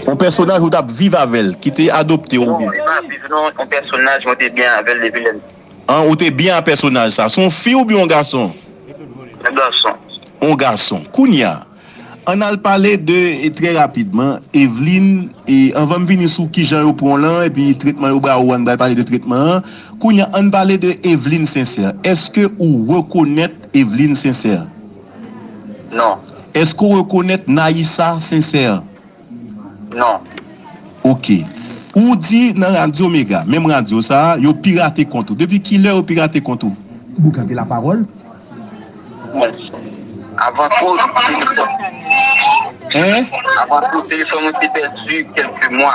Yon pèsonaj ou tap viv avèl, ki te adopte ou byen. An, ou te byen a pèsonaj sa. Se yon fi oubyen yon gason? Yon gason. Kounye a, ann al pale de, trè rapidman, Evlin, e anvan m vini sou kijan yo pran w lan, epi tretman yo ba ou an, bal pale de tretman an. Kounye a, ann pale de Evlin Sincère. Èske ou rekonèt Evlin Sincère? Non. Èske ou rekonèt Nayisa sensè? Non. Ok. Ou di nan Radyo Mega, menm radyo sa a, yo pirate kont ou. Depi ki lè yo pirate kont ou? Boukan de lapawòl. Bon. Avan tou, telefòn. Hein? Avan tou, telefòn mwen te pèdi kèlke mwa.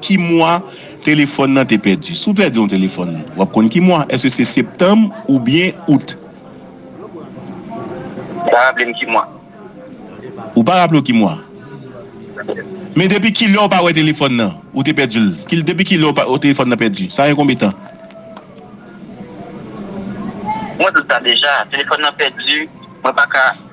Ki mwa telefòn nan te pèdi? Si w pèdi yon telefòn, w ap konn ki mwa? Èske se septanm oubyen out? Ou pa raple m ki mwa. Ou pa raple w ki mwa. Men depi ki lè ou pa wè telefòn nan? Ou te pèdi l. Ki depi ki lè ou telefòn nan pèdi? Sa gen konbe tan? Mwen di w sa deja. Telefòn nan pèdi. Mwen pa ka.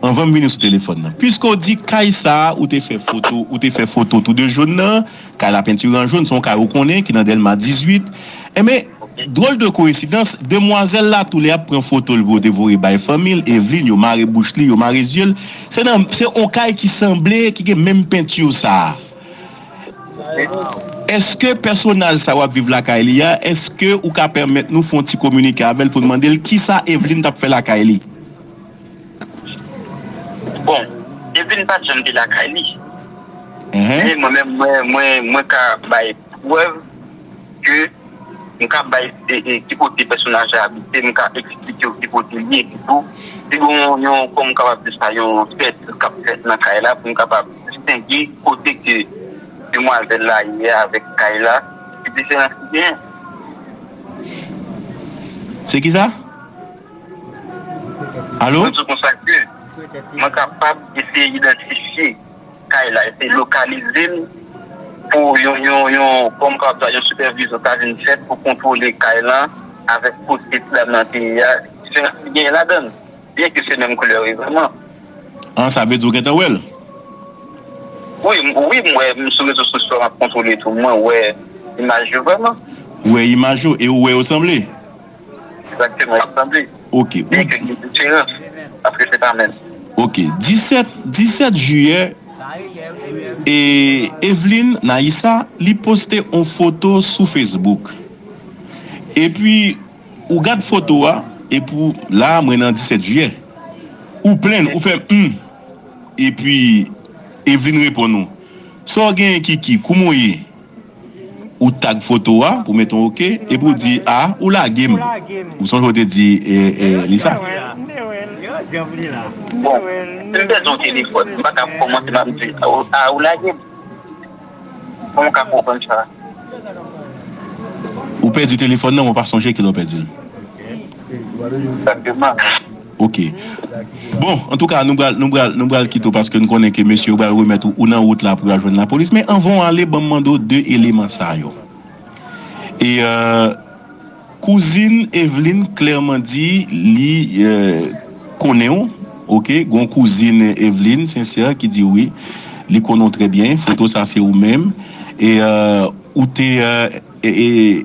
Anvan m vini sou telefòn nan. Piske w di kay sa ou te fè foto, ou te fè foto tou de jone nan, kay la pentire an jone, se yon kay ou konnen ki nan Dèlma 18. Enben, dwòl de koensidans, demwazèl la tou lè ap pran foto l pou yo te voye bay fanmi l, Evlin, yo mare bouch li, yo mare zye l, se nan, se yon kay ki sanble, ki gen menm pentire sa a. Eske pèsonaj sa w ap viv lakay li a, eske ou ka pèmèt nou fè yon ti kominike avè l pou n mande l kisa Evlin t ap fè lakay li? Bon, depi n pa t janm te lakay li, men mwen menm mwen ka bay prèv ke m ka bay ki kote pèsonaj la abite, m ka eksplike w ki kote li ye pitou. Si gen yon, kòm m kapab di sa, yon fèt k ap fèt nan kay la pou m kapab distenge kote ke demwazèl la ye a avèk kay la, ki diferans ki genyen. Se kisa? Mwen di konsa ke mwen kapab eseye idantifye kay la, eseye lokalize l pou yon kòm kwa sa yon sipèvizyon ta vin fèt pou kontwole kay la avèk kote ti dam nan te ye a. Diferans ki genyen ladan l, byen ke se menm koulè revèman. An, sa vle di ou gentan wè l? Wi, wi m wè sou rezo sosyo m ap kontwole tou, mwen wè imaj yo vrèman. Ou wè imaj yo e ou wè yo sanble? Exactement, map tande. Ok, ou. Gen kèk diferans, paske se pa menm. Ok, 17, 17 jiyè, e, Evlin Naïssa, li poste on foto sou Facebook. Epi, ou gad foto a, epi ou, la a mwen nan 17 jiyè. Ou plenn, ou fè hum. Epi, Evlin reponn ou, Sa w genyen Kiki, kouman w ye? Ou tag foto a, ou met on ok, epi ou di a, ou lage m. Ou sonje ou te di li sa? Ou pèdi telefòn nan men ou pa sonje kilè ou pèdi l. Ok Bon antouka nou pral nou pral nou pral kite w paske n konnen ke mesye yo pral remèt ou ou nan wout la pou w al jwenn lapolis men anvan w ale ban m mande w 2 eleman sa yo e Kouzin Evlin klèman di li konnen w ok gon kouzin Evlin Sincère ki di wi li konnen w trè byen foto sa se ou menm e ou te e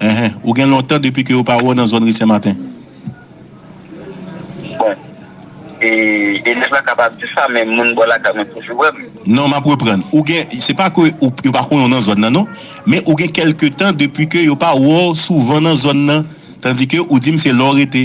Enhen ou gen lontan depi ke yo pa wè w nan zòn ri senmaten. Bon e elèv la kapab di sa men moun bò lakay mwen toujou wè m. Non map reprann ou gen se pa ke yo pa konnen w nan zòn nan non men ou gen kèlke tan depi ke yo pa wè w souvan nan zòn nan tandike ou di m se lè w rete.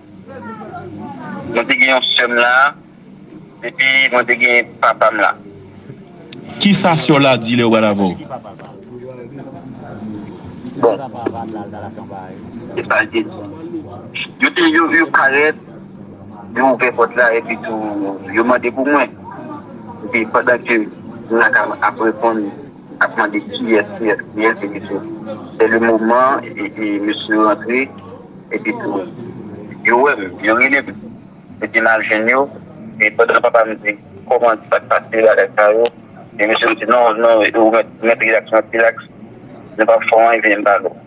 Mwen te gen yon sèm la depi mwen te gen papam la. Kisa sèw la di lèw pral avèw? Bon kisa li te di? Yo te parèt yo ouvè pòt la epi tou yo mande pou mwen epi pandan ke Naka ap reponn ap mande kiyès kiyès kiyès epi tou se le moman epi mesye yo rantre Epi tou, yo wè m, yo rele m. Epi m al jwenn yo, e pandan papa m di, Kòman, ki sa k pase, bagay sa yo? E mesye yo di, Non, non, ou mèt rilaks, mèt rilaks, nou pap fè w anyen, vini m ba nou.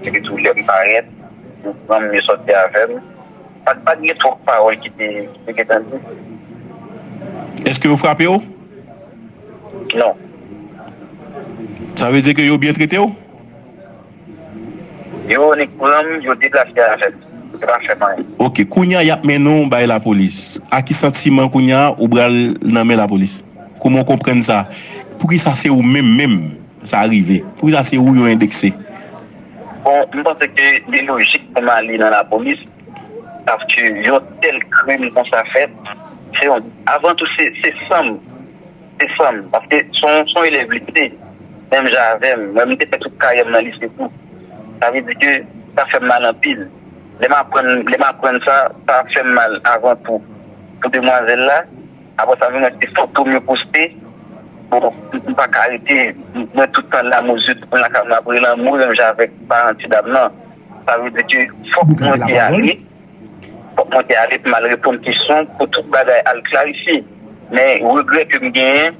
Epi tou, lè m parèt, yo pran m, yo sòti avè m. Pa t gen twòp pawòl ki te gen tan di. Èske yo frape w? Non. Sa vle di ke yo byen trete w? Yo nik pranm yo deplase avèm yo pa fèm anyen. Ok kounya yap mennen w bay lapolis a ki santiman kounya ou bral nan men lapolis kouman w konprann sa poukisa se ou menm menm sa rive poukisa se ou yo endekse. Bon m panse ke li lojik pou m ale nan lapolis paske yon tèl krim konsa fèt se yon avan tou se sanm. Se fanm, paske son elèv li te, menm jan avè m, mwen m te fè tout karyè m nan lise tou. Sa vle di ke sa fè m mal anpil. Lè m aprann, lè m aprann sa, sa fè m mal avan tou pou demwazèl la. Apre sa m vin wè se foto m yo poste. Bon, m pa ka rete, mwen tout tan lanmou, zye tout moun lakay mwen ap relanmou menm jan avèk paran ti dam nan. Sa vle di ke fòk mwen te ale. Kòmantè a li t mal reponn kesyon pou tout bagay al klarifye men regrè ke m genyen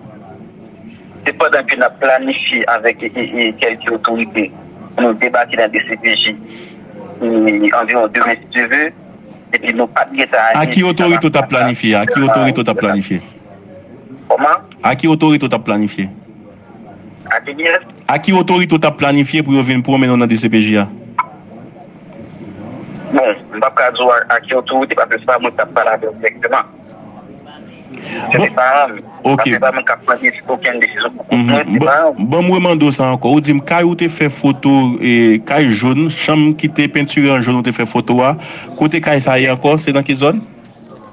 se pandan ke nap planifye avèk kèlke otorite pou nou debake nan dcpj anviwon demen si Dye ve epi nou pat gentan aji Aki otorite ou tap planifye? Aki otorite ou tap planifye? Kòman? Aki otorite ou tap planifye? A ki dèt? A ki otorite ou t ap planifye pou yo vin pwomennen w nan dcpj a? Bon, m p ap ka di w a ki otorite paske se pa mwen ki t ap pale avè w dirèkteman. Se te paran m. Paske se pa mwen k ap pran okenn desizyon pou kont mwen, se te paran m. Ban m remande w sa ankò. Ou di m kay ou te fè foto, kay jòn, chanm ki te pentire an jòn ou te fè foto a, kote kay sa ye ankò? Se nan ki zòn?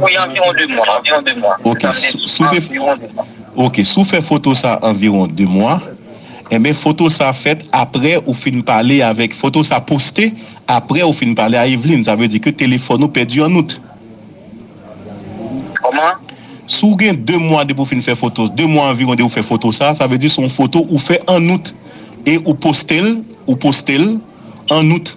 Wi anviwon 2 mwa, anviwon 2 mwa. Ok, si w te, ok, si w fè foto sa anviwon 2 mwa, enben foto sa fèt aprè ou fin pale avèk, foto sa poste aprè ou fin pale a Evelyne, sa vle di ke telefòn ou pèdi an Out. Kòman? Si w gen 2 mwa depi w fin fè foto, 2 mwa anviwon depi w fè foto sa, sa vle di se yon foto ou fè an Out e ou poste l, ou poste l an Out.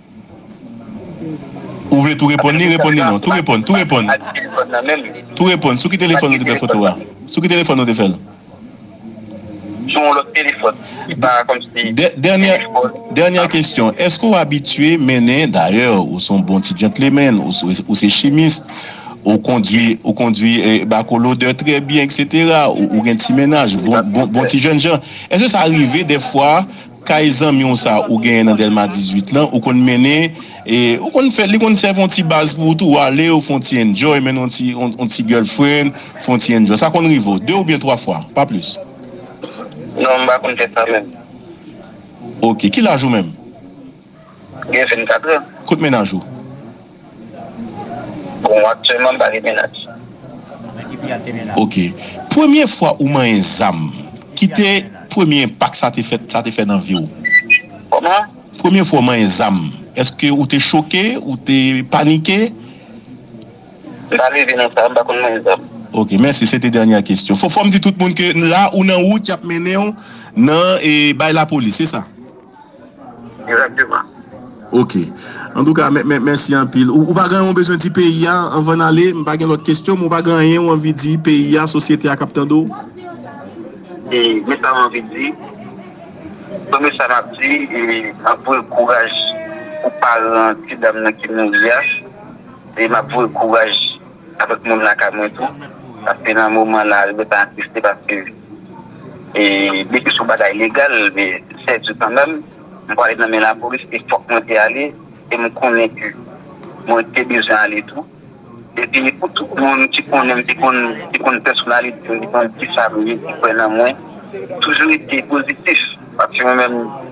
Ou vle tou reponn li? Reponn li non. Tou reponn, tou reponn. Tou reponn. Sou ki telefòn ou te fè foto a? Sou ki telefòn ou te fè l? Sou yon lòt telefòn. Se pa kòmsi. Dènyè, dènyè kesyon. Èske ou abitye mennen, dayè ou son bon ti djantlemenn, ou se chimis, ou kondwi, ou kondwi bakolodè trè byen eksetera, ou gen ti mennaj, bon, bon, bon ti jènjan. Èske sa rive dèfwa? Kay zanmi w sa ou genyen nan Dèlma 18 lan, ou konn mennen e ou konn fè, li konn sèvi yon ti baz pou ou tou. Ou ale, ou fè yon ti enjoy, mennen yon ti, yon ti girlfriend, fè yon ti enjoy. Sa konn rive w, 2 oubyen 3 fwa, pa plis. Non, m pa konn fè sa menm. Ok. Ki laj ou menm? Gen 24 è. Kot mennaj ou? Bon aktyèlman m pa gen mennaj. Ok. Premye fwa ou manyen zam, ki te premye enpak sa te fèt, sa te fè nan vi w? Kòman? Premye fwa ou manyen zam, èske ou te choke, ou te panike? M pa leve nan sa, m pa konn manyen zam. Ok, mèsi. Se te dènyè kesyon. Fò m di tout moun ke la ou nan wout y ap mennen w nan bay lapolis, se sa? Exactement. Ok. Antouka mè mèsi anpil. Ou pa gen anyen ou bezwen di peyi a anvan n ale? M pa gen lòt kesyon men ou pa gen anyen ou anvi di peyi a, sosyete a k ap tande w? E men sa m anvi di, premye sa m ap di e m ap voye kouraj pou paran ti dam nan ki mouri a e m ap voye kouraj Avèk moun lakay mwen tou. Paske nan moman la yo ta atiste paske depi son bagay legal men sè di kanmèm m pwale nan men lapolis e fòk mwen te ale e m konnen ke mwen te bezwen ale tou. Epi pou tout moun ki konnen m ki konn pèsonalite m ki konn kisa m ye ki kwè nan mwen toujou rete pozitif paske mwen menm.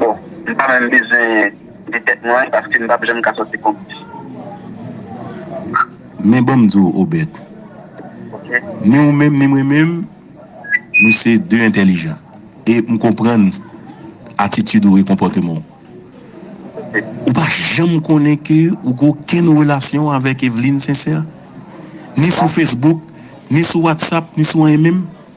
Bon, m pa menm bezwen di tèt mwen paske m pap janm ka sòti konplis. Men ban m di w Obèd, ni ou menm ni mwen menm, nou se de entèlijan e m konprann atitid ou e konpòteman w. Ou pa janm konnen ke ou gen okenn relasyon avèk Evlin Sensè? Ni sou Facebook, ni sou WhatsApp, ni sou anyen menm?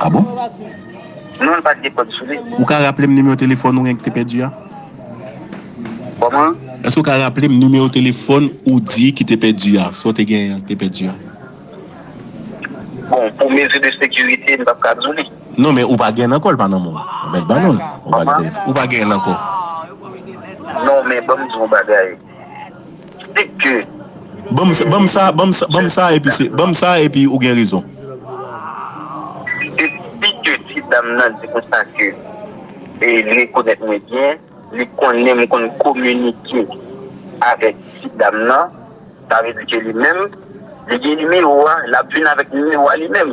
Ah bon? Non li pat gen kòd sou li. Ou ka raplem nimewo telefòn ou enk te pèdi a? Kòman? Èske ou ka raplem nimewo telefòn ou di ki te pèdi a, sa ou te genyen an ki te pèdi a? Bon pou mezi de sekirite m pap ka di w li. Non men ou pa genyen l ankò li pa nan men w. Ou mèt ba nou l. Kòman? Ou pa genyen l ankò. Non men banm di w yon bagay. Stick ke. Banm sa banm sa banm sa banm sa epi se banm sa epi ou gen rezon. Depi ke ti dam nan di konsa ke li rekonèt mwen byen, li konnen m konn kominike avèk ti dam nan, sa vle di ke li menm li gen nimewo a, l ap vin avèk nimewo a li menm.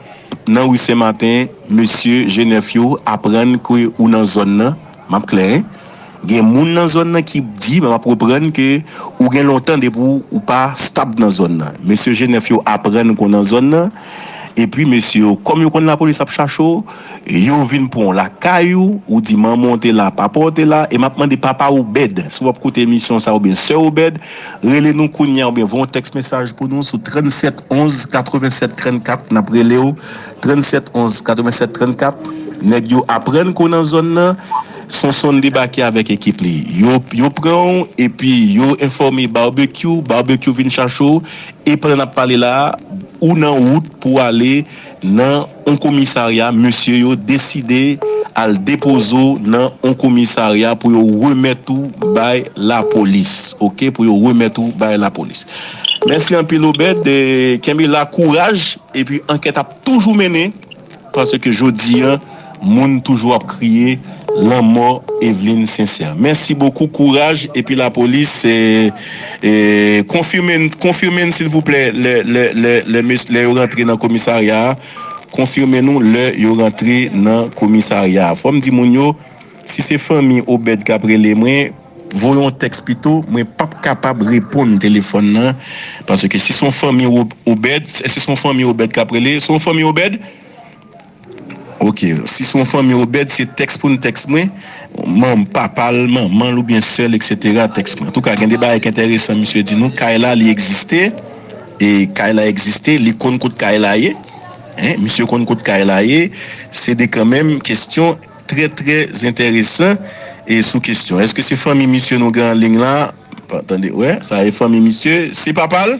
Nan rue Sen Maten mesye je nèf yo aprann ke ou nan zòn nan map klè hein gen moun nan zòn nan ki di map reprann ke ou gen lontan depi ou pa stab nan zòn nan mesye je nèf yo aprann ke ou nan zòn nan epi mesye yo kòm yo konn lapolis ap chache w yo vin pran w lakay ou ou di manman w te la papa w te la e map mande papa w Obed si wap koute emisyon sa oubyen sè w Obed Rele nou kounya oubyen voye yon tèks mesaj pou nou sou 37 11 87 34 nap relew 37 11 87 34 nèg yo aprann kou nan zòn nan Sonsonn debake avèk ekip li yo yo pranw epi yo enfòme Barbecue Barbecue vin chache w e pandan nap pale la ou nan wout pou ale nan on komisarya mesye yo deside al depoze w nan on komisarya pou yo remèt ou bay lapolis ok pou yo remèt ou bay lapolis mèsi anpil Obed kenbe la kouraj epi ankèt ap toujou mennen paske jodi an moun toujou ap kriye lanmò Eveline Sincère mèsi bokou kouraj epi lapolis. Konfime n konfime n silvouplè lè lè lè lè mes lè yo rantre nan komisarya a konfime nou lè yo rantre nan komisarya a fò m di moun yo si se fanmi Obed k ap rele mwen voye yon tèks pito mwen p ap kapab reponn telefòn nan paske si se yon fanmi Obed èske se yon fanmi Obed k ap rele se yon fanmi Obed? Ok, si se yon fanmi Obed, se tèks pou n tèks mwen, manm, papa l, manman l oubyen sè l eksetera tèks mwen. Antouka gen de bagay k entèresan misye di nou, kay la li egziste, e kay la egziste, li konn kot kay la ye, hein, misye konn kot kay la ye, se de kanmenm kesyon trè trè zentèresan e sou kesyon èske se fanmi misye nou gen anlign la, pa tande, wè, sa e fanmi misye, se papa l?